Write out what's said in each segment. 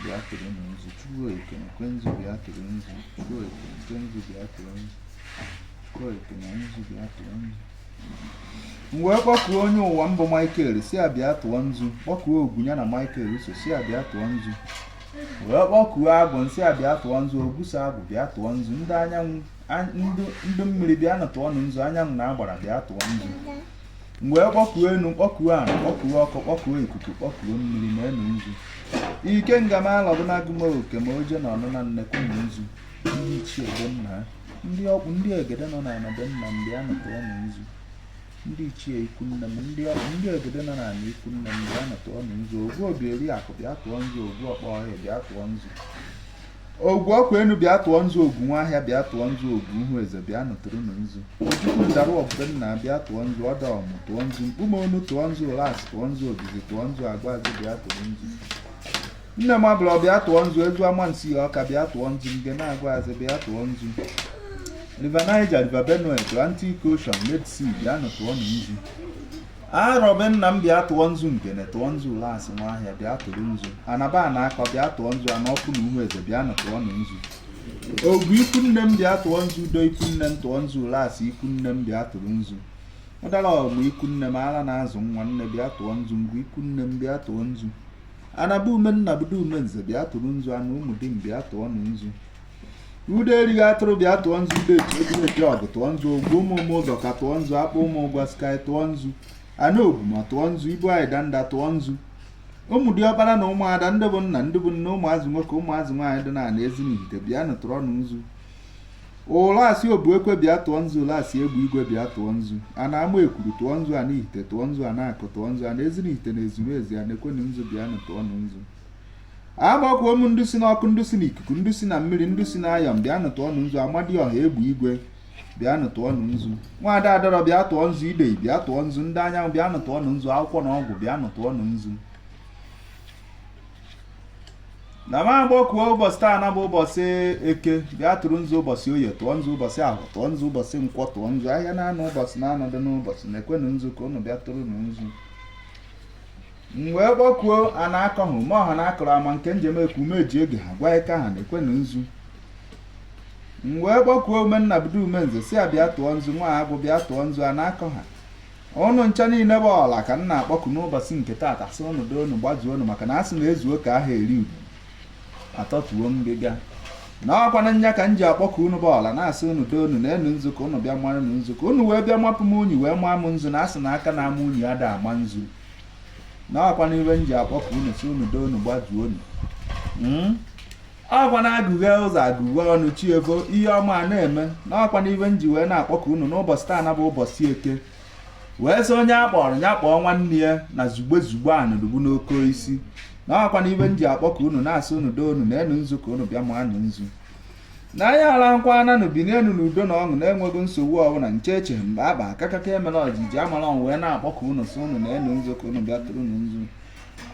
bịa tụrụ nzu chukwu eke nkwe nzu bịa tụrụ nzu chukwu eke nkwe nzu bịa tụrụ nzu chukwu eke na nzu bịa tụrụ nzu m wee kpọkuo onye ụwa m bụ michael sị ya bịa tụọ nzu kpọkuo ogwu ya na michael so sị ya bịa tụọ nzu wee kpọkuo agwụ m sị ya bịa tụọ nzu ogwu so agwụ bịa tụọ nzu ndị anyanwụ ndị mmiri bịanụ tụọ nụ nzu anyanwụ na agbara bịa tụọ nzu m wee kpọkuo enu kpọkuo ala kpọkuo ọkụ kpọkuo ikuku kpọkuo mmiri maa unu nzu ikenga m alọbụnagụ m oke ma oje na ọnụ na nnekwu na nzu ndị ichie be nna ha ndị ọkpụ ndị egede nọ n'ala be nna m bịanụ tụọ nụ nzu ndị ichie ikwu nne m ndị ọkpụ ndị egede nọ n'ala ikwu nne m bịanụ tụọ nụ nzu ogwu obi eri akụ bịa tụọ nzu ogwu ọkpọ ọhịa bịa tụọ nzu ogwu ọkụ enu bịa tụọ nzu ogwu nwa ahịa bịa tụọ nzu ogwu ihu eze bịanụ tụrụ nụ nzu ojukwu na ụdara ọmụ be nna bịa tụọ nzu ọda ọmụ tụọ nzu mkpume onu tụọ nzu ulasi tụọ nzu obizi tụọ nzu agwazi bịa tụrụ nzu nne m abụla bịa tụọ nzu ezu amansea ọka bịa tụọ nzu ngene agwazi bịa tụọ nzu river niger river benue atlantic ocean red sea bịa nụ tụọ nụ nzu arọ be nna m bịa tụọ nzu ngene tụọ nzu ulasi nwa ahịa bịa tụrụ nzu anaba na akọ bịa tụọ nzu ana ọkpụ na uhu eze bịanụ tụọ nụ nzu ogwu ikwu nne m bịa tụọ nzu udo ikwu nne m tụọ nzu ulasi ikwu nne m bịa tụrụ nzu ụdara ọmụ ikwu nne m ara na-azụ nwa nne bịa tụọ nzu ngwu ikwu nne m bịa tụọ nzu anaba ume nna budo ume nze bịa tụrụ nzu ana ụmụ di m bịa tụọ nụ nzu udo erighị atụrụ bịa tụọ nzu udo etu egwu oke ọgụ tụọ nzu ogwu ụmụ ụmụ ụzọka tụọ nzu akpụ ụmụ ụgwa sky tụọ nzu ana ogwuma tụọ nzu ibu anyị danda tụọ nzu ụmụ diọkpara na ụmụada ndị bụ nna ndị bụ nne ụmụazị nwoke ụmụazị nwaanyị dị n'ala ezinihite bịanụ tụrụ nụ nzu ulasi obu ekwe bịa tụọ nzu ulasi egbe igwe bịa tụọ nzu ana amaekwuru tụọ nzu ana ihite tụọ nzu ana akụ tụọ nzu ana ezinihite na ezumezu a na-ekwenụ nzu bịanụ tụọ nụ nzu akpọkuo m ndị si n'ọkụ ndị si n'ikuku ndị si na mmiri ndị si n'ayọm bịanụ tụọ nụ nzu amadiọha egbe igwe bịanụ tụọ nụ nzu nwaada adọrọ bịa tụọ nzu idei bịa tụọ nzu ndị anyanwụ bịanụ tụọ nụ nzu akwụkwọ na ọgwụ bịanụ tụọ nụ nzu na m akpọkuo ụbọchị taa na bụ ụbọchị eke bịa tụrụ nzu ụbọchị oye tụọ nzu ụbọchị ahọ tụọ nzu ụbọchị nkwọ tụọ nzu ahịa naanọ ụbọchị naanọ dụ n'ụbọchị na-ekwenụ nzu ka ụnụ bịa tụrụ nzu m wee kpọkuo a na-akọ ha ma ọha na akọrọ ama nke njem eku ume ji oge ha gwa ike ha na-ekwe na nzu m wee kpọkuo ume nna bido ume nze sị ya bịa tụọ nzu nwa agwụ bịa tụọ nzu a na-akọ ha ụnụ ncha niile bụ ọla ka m na-akpọku n'ụbọchị nke taata sị ụnụ dị ụnụ gbazuo ụnụ maka na a sị na ezuo ka a ha eri udu a tọtuo ngịga na ọ kwanụ nya ka m ji akpọku unu bụ ọla na-asị unu dị unu na enu nzu ka unu bịa mara nụ nzu ka unu wee bịa mapụ m unyi wee maa m nzu na asị na aka na-ama unyi ada ama nzu na ọkwa n'ibe m ji akpọku unu sị unu doo unu gbazuo unu hmm? ọkwanụ agụghe ụzọ agụghe ọnụ chi evo ihe ọma a na-eme na ọkwa n'ibe m ji wee na-akpọku unu n'ụbọchị taa na bụ ụbọchị eke wee sị onye a kpọrọ ya kpọọ nwanne ya na zugbe zugbe anụdugbu n'oke isi na ọkwa n'ibe m ji akpọku unu na-asị unu doo unu neenụ nzu ka unu bịa maanụ nzu na anyị alahụkwananụ binienụ n'udo na ọṅụ na-enweghị nsogbu ọbụla nche eche mgbe akpa akakaka emela ọjiji amala ọnwụ wee na-akpọku unu sị unu neenụ nzu ka unu bịa tụrụ unu nzu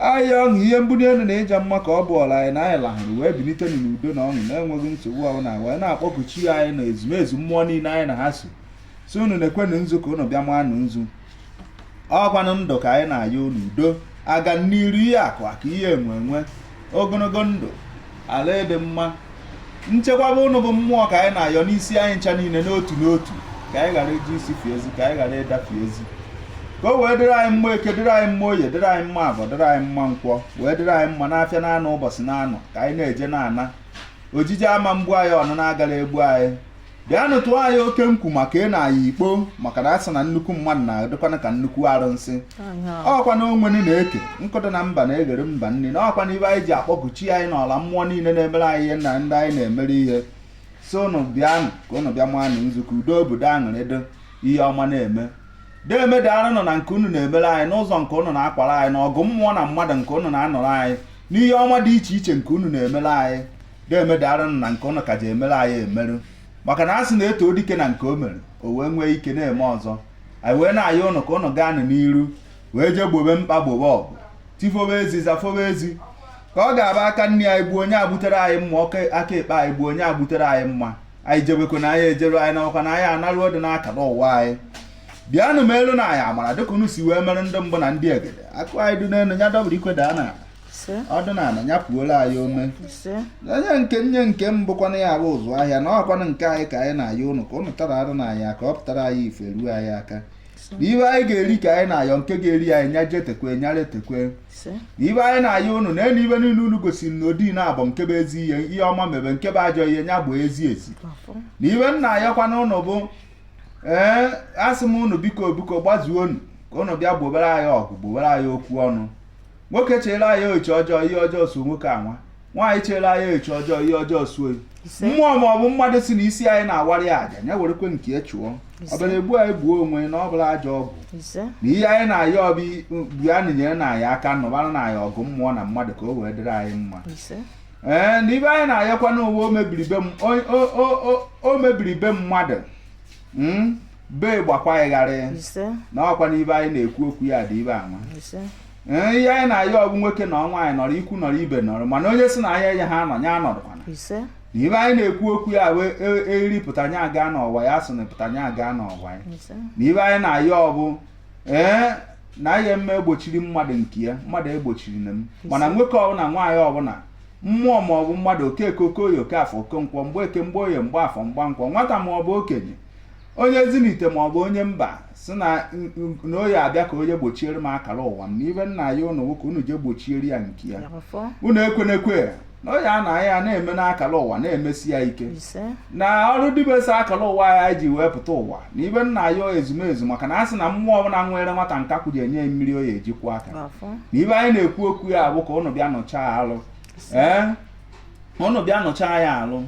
ahịa ọṅụ ihe mbuli elu na ịja mma ka ọ bụ ọla anyị na anyị lahụrụ wee bilite n'udo na ọṅụ na-enweghị nsogbu ọbụla wee na-akpọku chi anyị na ezumezu mmụọ niile anyị na ha so sị unu nekwenụ nzu ka unu bịa manụ nzu ọkwanụ ndụ ka anyị na-ayọ unu udo aga n'iru ihe akụ aka ihe enwe enwe ogologo ndụ ala ịdị mma nchekwaba ụnụ bụ mmụọ ka anyị na-ayọ n'isi anyị ncha niile n'otu n'otu ka anyị ghara iji isi fie ezi ka anyị ghara ịdafe ezi ka o wee dịrị anyị mma eke dịrị anyị mma oye dịrị anyị mma afọ dịrị anyị mma nkwọ wee dịrị anyị mma n'afịa naanọ ụbọchị naanọ ka anyị na-eje na-ana ojije ama egbu anyị ọnụna agara egbu anyị bịanụ tụọ anyị oke nkwu maka ị na-aya ikpo maka na a sị na nnukwu mmadụ na-adịkwana ka nnukwu arụsị ọkwa na onwenu na-eke nkụ dị na mba na-eghere mba nni na ọkwa na ibe anyị ji akpọku chi anyị na ọla mmụọ niile na-emere anyị ihe na ndị anyị na-emere ihe sị ụnụ bịanụ ka ụnụ bịa manụ nzu ka udo obodo aṅụrị dị ihe ọma na-eme deeme daalụnụ na nke unu na-emere anyị n'ụzọ nke ụnụ na-akwara anyị na ọgụ mmụọ na mmadụ nke ụnụ na-anụrụ anyị n'ihe ọma dị iche iche nke unu na-emere anyị deeme daalụnụ na nke ụnụ ka ji emere anyị emerụ maka na a sị na e too dike na nke o mere o wee nwee ike na-eme ọzọ anyị wee na-ayọ ụnụ ka ụnụ gaa n'iru wee jee gbobe mkpa gbobe ọgụ tifobe ezi zafobe ezi ka ọ ga-abụ aka nni anyị gbuo onye agbutere anyị mma aka ekpe anyị gbuo onye agbutere anyị mma anyị jebekwana anyị ejeruo anyị nabakwana anyị anaruo dị n'akara ụwa anyị bịanụ melụnụ anyị amara dịka unu si wee mere ndị mbụ na ndị egede akụ anyị dị n'elu ya dọbụrụ ikwe daa na ọ dụ n'ala ya puola anyị ome onye nke nye nke m bụkwana ya bụ ụzụ ahịa na ọkwanụ nke anyị ka anyị na-ayọ ụnụ ka ụnụ tara arụ na anyị ka ọ pụtara anyị ife ruo anyị aka na ibe anyị ga-eri ka anyị na-ayọ nke ga-eri anyị nya jee tekwe nyara etekwe na ibe anyị na-ayọ ụnụ na elu ibe niile unu gosiri na odi na-abụ nke bụ ezi ihe ihe ọma mebe nke bụ ajọ ihe nya bụ ezi ezi na ibe m na-ayọkwana ụnụ bụ ee asị m ụnụ biko biko gbazuo unu ka ụnụ bịa gbobere anyị ọgụ gbobere anyị okwu ọnụ nwoke chere anyị echi ọjọọ ihe ọjọọ so nwoke anwa nwaanyị chere anyị echi ọjọọ ihe ọjọọ so ya mmụọ ma ọ bụ mmadụ si na isi anyị na-awara ya aja ya werekwe nke ya chụọ ọ bịara egbu anyị gbuo onwe na ọ bụrọ ajọ ọgwụ na ihe anyị na-ayọ bụ bịanụ nyerenụ anyị aka nụbaranụ anyị ọgụ mmụọ na mmadụ ka o wee dịrị anyị mma ee na ibe anyị na-ayọkwa n'ụwa o mebiri be mmadụ hmm? be gbakwa ịgharị na ọkwa n'ibe anyị na-ekwu okwu ya dị ibe anwa ee ihe anyị na-ayọ bụ nwoke na nwaanyị nọrọ ikwu nọrọ ibe nọrọ mana onye si na anyị ayaha anọ ya anọrọkwana ise na ibe anyị na-ekwu okwu ya wee e- eriri pụta nya aga n'ọwa ya sị na pụta nya aga n'ọwa ya ise na ibe anyị na-ayọ bụ ee na ihe m egbochiri mmadụ nke ya mmadụ egbochirina m mana nwoke ọbụla nwaanyị ọbụla mmụọ ma ọ bụ mmadụ okeke okoye okafọ okonkwọ mgbeke mgboye mgbafọ mgbankwọ nwata ma ọ bụ okenye onye ezinite ma ọ bụ onye mba si na na ọ ya-abịa ka onye gbochiere m akara ụwa m na ibe nna anyị ụnụ nwoke unu je gbochiere ya nke ya unu ekwenekwe na oyi a na ya na-eme n'akara ụwa na-emesi ya ike na ọrụ dibesa akara ụwa ya ji wee pụta ụwa na ibe nna anyị ezumezu maka na a sị na mmụọ ọbụla nyere nwata nkakwụ je enye mmiri ọ ya-eji kwọ aka na ibe anyị na-ekwu okwu ya bụ ka ụnụ bịa nụchaa alụ ee ụnụ bịa nụchaa ya alụ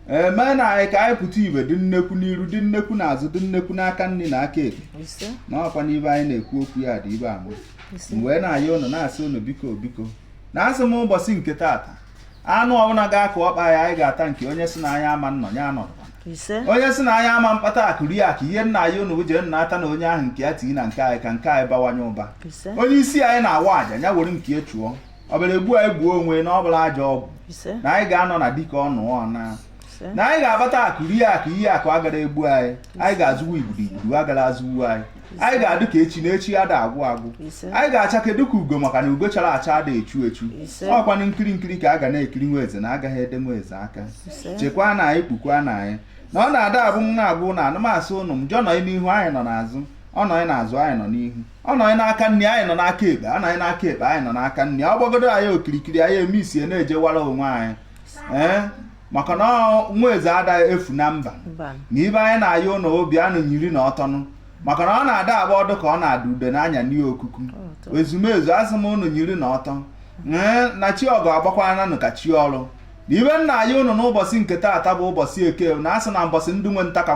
meenụ anyị ka anyị pụta ibe dị nnekwu n'iru dị nnekwu n'azụ dị nnekwu n'aka nri na aka ekpe ise na ọkwa n'ibe anyị na-ekwu okwu ya dị ibe anwa ise m wee na-ayọ unu na-asị unu biko biko na asị m ụbọchị nke taata anụ ọbụla ga-akụ ọkpa ya anyị ga-ata nke onye si na anyị ama nnọ ya anọdụkwana ise onye si na anyị ama mkpata akụ rie akụ ihe nna anyị unu jee natanụ onye ahụ nke ya tinye na nke anyị ka nke anyị bawanye ụba ise onye isi anyị na-awa aja ya were nke ya chụọ ọ bịara egbu anyị gbuo onwe na ọ bụrọ ajọ ọgwụ na anyị ga-anọ na dịka ọnụ ọna na anyị ga-akpata akụ rie akụ ihe akụ agara egbu anyị anyị ga-azụwa igbudu igbudu agara azụwu anyị anyị ga-adụ ka echi na echi ada agwụ agwụ anyị ga-achake dụ ka ugo maka na ugo chara acha ada echu echu ọkwanụ nkiri nkiri ka a ga na-ekiri nwa eze na agaghị ede nwa eze aka chekwaanụ anyị kpukwanụ anyị na ọ na-ada agụ nwa agụ na ana m asị ụnụ njọ nọ n'ihu anyị nọ n'azụ ọ nọ n'azụ anyị nọ n'ihu ọ nọ anyị n'aka nri anyị nọ n'aka ekpe ọ nọ anyị n'aka ekpe anyị nọ n'aka nri ọ gbagodo anyị okirikiri anyị emisie na-ejewara onwe anyị ee maka na nwa eze adaghị efu na mba na ibe anyị na-ayọ ụnụ bịanụ nyiri na ọtọnụ maka na ọ na-ada agba ọdụ ka ọ na-ada ude n'anya n'ihe okuku ezumezu asị m ụnụ nyiri na ọtọ ee na chi ọgụ agbakwananụ ka chi ọrụ na ibe nna anyị ụnụ n'ụbọchị nke taata bụ ụbọchị eke na asị na mbọchị ndị nwe nta ka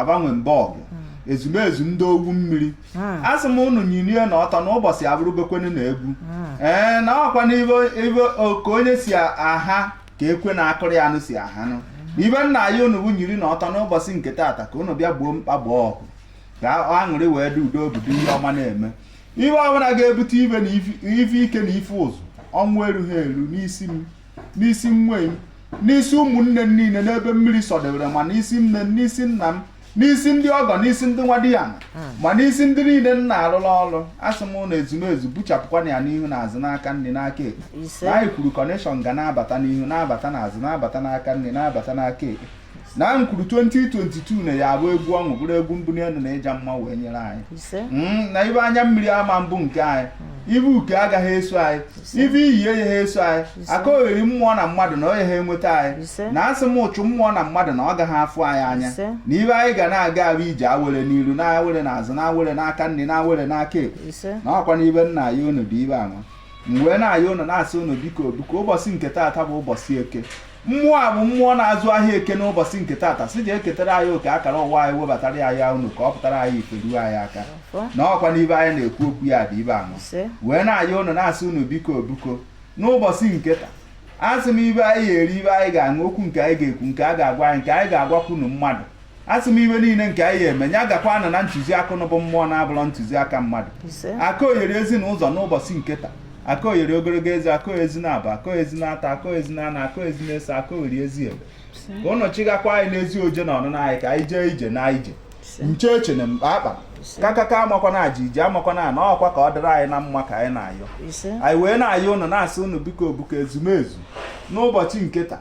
gbanwe mba ọgụ hmm. ezumezu ndị owu mmiri hmm. asị m ụnụ nyirie na ọtọ na ụbọchị abụrụbekwenu na egwu hmm. ee na ọkwa na ibe ka onye si aha ka ekwe na-akụrụ ya anụ si ahanụ ibe nna anyị ụnụ bụ nyiri na ọtọ n'ụbọchị nke taata ka ụnụ bịa gboo mkpa gboo ọgụ ka aṅụrị wee dị udo obodo ihe ọma na-eme ibe ọbụla ga-ebute ibe na ife ike na ife ụzụ ọnwụ erughị eru n'isi m n'isi nwunye m n'isi ụmụnne m niile n'ebe mmiri sọdebere ma n'isi nne m n'isi nna m n'isi ndị ọgọ n'isi ndị nwadiana ma n'isi ndị niile m na-arụrụ ọrụ asị m na ezumezu buchapụkwana ya n'ihu na azụ n'aka nri n'aka ekpe na anyị kwuru connection ga na-abata n'ihu na-abata n'azụ na-abata n'aka nri na-abata n'aka ekpe na m kwuru 2022 na ya abụ egwu ọṅụ bụrụ egwu mbuli elu na ịja mma wee nyere anyị hmm, na ibe anya mmiri ama mbụ nke anyị hmm. ibe uke agaghị eso anyị ibe iyi eyeghị eso anyị aka ogheri mmụọ na mmadụ na o yeghị enweta anyị na asị m ụchụ mmụọ na mmadụ na ọ gaghị afụ anyị anya na ibe anyị ga na-aga abụ ije awere n'iru na awere n'azụ na awere n'aka nri na awere n'aka ekpe na ọkwa n'ibe nna anyị unu bụ ibe ahụ m wee na-ayọ unu na-asị unu biko biko ụbọchị nke taata bụ ụbọchị eke mmụọ a bụ mmụọ na-azụ ahịa eke n'ụbọchị nke taata sị je ketara anyị oke akara ụwa anyị webatara anyị ụnọ ka ọ pụtara anyị ife ruo anyị aka na ọkwa n'ibe anyị na-ekwu okwu ya bụ ibe ahụ wee na-ayọ unu na-asị unu biko biko n'ụbọchị nke taa asị m ibe anyị ga-eri ibe anyị ga-aṅụ okwu nke anyị ga-ekwu nke a ga-agwa anyị nke anyị ga-agwakwanụ mmadụ asị m ibe niile nke anyị ga-eme ya gakwanụ na ntụziaka ụnụ bụ mmụọ na-abụrọ ntụziaka mmadụ aka oyere ezi na ụzọ n'ụbọchị nke taa aka oyere ogologo ezi aka ezi na aba aka ezi na ata aka ezi na ana aka ezi na ese aka oyere ezi ebe ka ụnụ chịgakwa anyị n'ezi oje na ọnụna anyị ka anyị jee ije na ije nche eche na mkpa akpa kakaka amakwana aji iji amakwana na ọkwa ka ọ dịrị anyị na mma ka anyị na-ayọ anyị wee na-ayọ ụnụ na-asị ụnụ biko biko ezumezu n'ụbọchị nke taa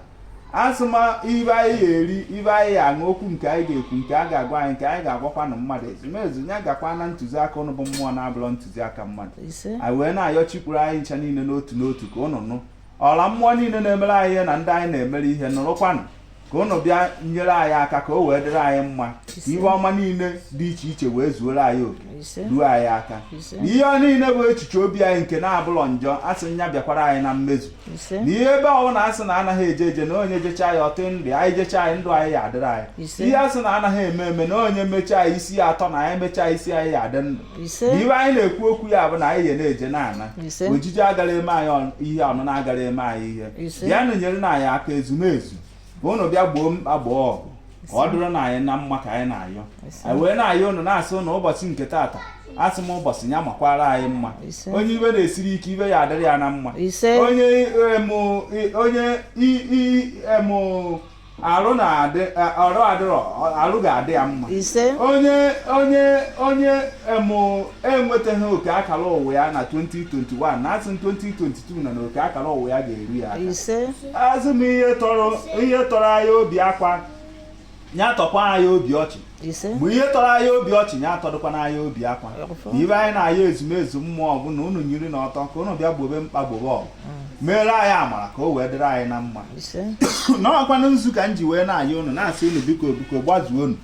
asị m ibe anyị ga-eri ibe anyị ga-aṅụ okwu nke anyị ga-ekwu nke a ga-agwa anyị nke anyị ga-agwakwanụ mmadụ ezumezu ya gakwa na ntụziaka ụnụ bụ mmụọ na-abụrọ ntụziaka mmadụ anyị wee na-ayọ chikwuru anyị ncha niile n'otu n'otu ka ụnụ nụ ọla mmụọ niile na-emere anyị ihe na ndị anyị na-emere ihe nụrụkwanụ ka ụnụ bịa nyere anyị aka ka o wee dịrị anyị mma ka ihe ọma niile dị iche iche wee zuoro anyị oke ruo anyị aka na ihe niile bụ echiche obi anyị nke na-abụlọ njọ asị nya bịakwara anyị na mmezu na ihe ebe ọbụla asị na anaghị eje eje na onye jecha ya ọtị ndụ anyị jecha ya ndụ anyị ya adịrị anyị ihe asị na anaghị eme eme na onye mechaa ya isi ya atọ na anyị mechaa isi anyị ya adị ndụ na ibe anyị na-ekwu okwu ya bụ na anyị ya na-eje na-ana ojije agara eme anyị ihe ọnụna agara eme anyị ihe bịanụ nyere na anyị aka ezumezu ka unu bịa gboo mkpa gboo ọgụ ka ọ dịrị na anyị na mma ka anyị na-ayọ anyị wee na-ayọ unu na-asị ụnụ ụbọchị nke taata asị m ụbọchị ya makwara anyị mma onye ibe na-esiri ike ibe ya adịrị ya na mma onye em arụ na-adị ọrụ adịrọ arụ ga-adị ya mma onye onye onye em enwetaghị oke akara ụwa ya na 2021 na asị 2022 na oke akara ụwa ya ga-eru ya aka asị m ihe tọrọ anyị obi akwa ya tọkwa anyị obi ọchị ise mgbe ihe tọrọ anyị obi ọchị ya atọdụkwana anyị obi akwa ọfọ na ibe anyị na-ayọ ezumezu mmụọ bụ na unu nyiri n'ọtọ ka unu bịa gbobe mkpa gbobe ọgụ meere anyị amara ka o wee dịrị anyị na mma ise na ọkwanụ nzu ka m ji wee na-ayọ unu na-asị unu biko biko gbazuonụ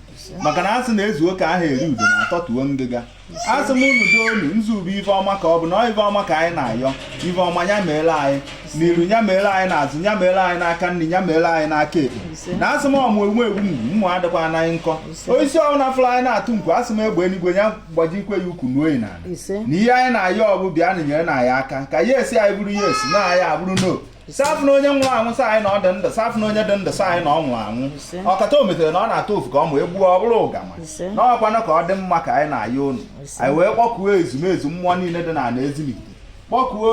maka na asị na ezuo ka aha eri udene atọtuo ngịga asị m unu doonụ nzu bụ ife ọma ka ọ bụ na ife ọma ka anyị na-ayọ ife ọma ya meela anyị n'iru ya meela anyị n'azụ ya meela anyị n'aka nri ya meela anyị n'aka ekpe na asị m ọmụ ewu ewu mma adịkwana ya nkọ osisi ọbụla fụrụ anyị na-atụ nkwu asị m egbe eluigwe ya gbajikwe ya ukwu n'oyi na na ihe anyị na-ayọ bụ bịanụ nyerenụ anyị aka ka yes anyị bụrụ yes no anyị abụrụ no sị afụna onye nwụrụ anwụ sị anyị na ọ dị ndụ sị afụna onye dị ndụ sị anyị na ọ nwụrụ anwụ ọkata o metere na ọ na-atụ ofu ka ọ ma egbuo ọ bụrụ ụgama na ọkwanụ ka ọ dị mma ka anyị na-ayọ unu anyị wee kpọkuo ezumezu mmụọ niile dị n'ana Ezinifite kpọkuo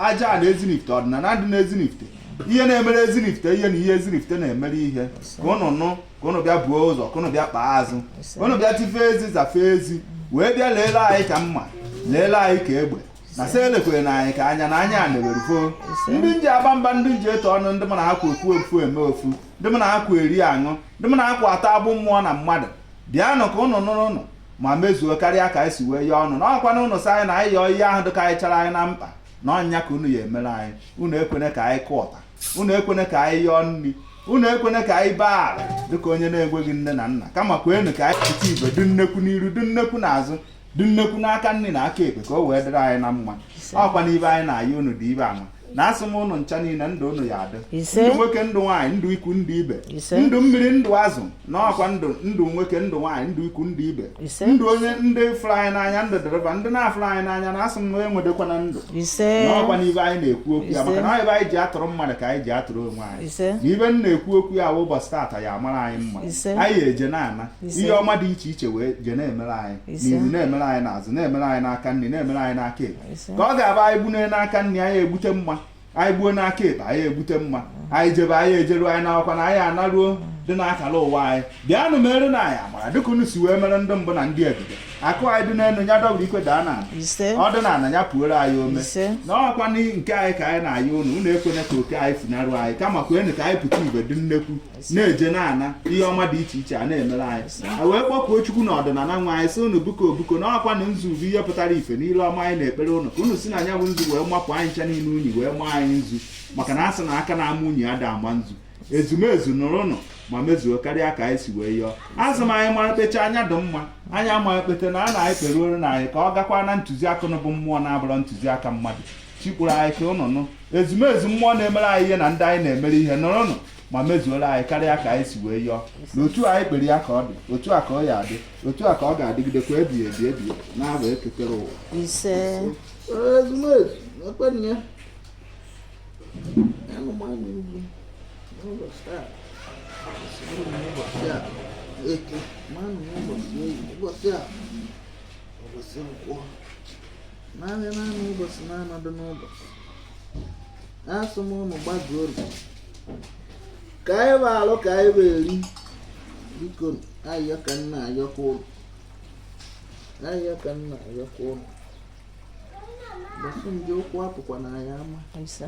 aja ana Ezinifite ọdịnala dị n'Ezinifite ihe na-emere Ezinifite ihe na ihe Ezinifite na-emere ihe ka ụnụ nụ ka ụnụ bịa buo ụzọ ka ụnụ bịa kpee azụ ụnụ bịa tifee ezi zafee ezi wee bịa leele anyị ka mma leele anyị ka egbe na sị elekwena anyị ka anya na anya anewere foo ndị m ji aba mba ndị m ji etu ọnụ ndị mụ na ha kwa ofu eme ofu ndị mụ na ha kwa eri aṅụ ndị mụ na ha kwa atọ agbụ mmụọ na mmadụ bịanụ ka ụnụ nụrụ ụnụ ma mezuo karịa ka anyị si wee yọọ unu na ọkwa na ụnụ sị anyị na anyị yọọ ihe ahụ dịkarịchara anyị na mkpa na ọ nya ka unu ya emere anyị unu ekwene ka anyị kụọ ọta unu ekwene ka anyị yọọ nri unu ekwene ka anyị baa ala dịka onye na-enweghị nne na nna kama kwenụ ka anyị pụta ibe dị nnekwu n'iru dị nnekwu n'azụ dị nnekwu n'aka nri na aka ekpe ka o wee dịrị anyị na mma ọkwa n'ibe anyị na-ayọ unu dị ibe ọma na asị m ụnụ ncha niile ndụ ụnụ ya adị ndụ nwoke ndụ nwaanyị ndụ ikwu ndụ ibe ndụ mmiri ndụ azụ na ọkwa ndụ ndụ nwoke ndụ nwaanyị ndụ ikwu ndụ ibe ndụ onye ndị fụrụ anyị n'anya ndụ dịrị ba ndị na-afụrọ anyị n'anya na asị m na enwedekwana ndụ na ọkwa n'ibe anyị na-ekwu okwu ya maka na ibe anyị ji atụrụ mmadụ ka anyị ji atụrụ onwe anyị na ibe m na-ekwu okwu ya ụbọchị taata ya amara anyị mma anyị eje na-ana ihe ọma dị iche iche wee je na-emere anyị n'iru na-emere anyị n'azụ na-emere anyị n'aka nri na-emere anyị n'aka ekpe ka ọ ga-abụ anyị gbunye n'aka nri anyị egbute mma anyị gbuo n'aka ekpe anyị egbute mma anyị jebe anyị ejeruo anyị nakwanụ anyị anaruo ndị na-akara ụwa anyị bịanụ merenụ anyị amara dịka unu si wee mere ndị mbụ na ndị egede akụ anyị dị n'elu ya dọbụrụ ikwe daa n'ana ọ dị n'ana ya puoro anyị ome na ọkwa nke anyị ka anyị na-ayọ unu unu ekwene ka oke anyị funarụ anyị kama kwenụ ka anyị pụta ibe dị nnekwu na-eje na-ana ihe ọma dị iche iche a na-emere anyị a wee kpọkuo chukwu na ọdịnala nwa anyị sị unu biko biko na ọkwa na nzu bụ ihe pụtara ife niile ọma anyị na-ekpere unu ka unu si na nya bụ nzu wee mapụ anyị ncha niile unyi wee maa anyị nzu maka na a sị na aka na-ama unyi ada ama nzu ezumezu nụrụnụ ma mezuo karịa ka anyị si wee yọọ azụ m anyị mara kpecha anya dị mma anyị amaghị kpete na a na anyị kpere olu na anyị ka ọ gakwa na ntụziaka unu bụ mmụọ na-abụrọ ntụziaka mmadụ chi kpụrụ anyị ka unu nụ ezumezu mmụọ na-emere anyị ihe na ndị anyị na-emere ihe nụrụnụ ma mezuola anyị karịa ka anyị si wee yọọ na otu anyị kpere ya ka ọ dị otu a ka ọ ya adị otu a ka ọ ga-adịgidekwa ebighị ebi ebi na-abụ eke kere ụwa ise ụbọchị a ụbọchị nkwọ naanị naanị ụbọchị na-anọdụ n'ụbọchị asị m unu gbajuo obi ka anyị bụ alụ ka anyị bụ eri biko ayọ ka nna ayọkwa ụlọ ayọ ka nna ayọkwa ụlọ bọsụ ndị ụkwụ apụkwa na ya ama Ise.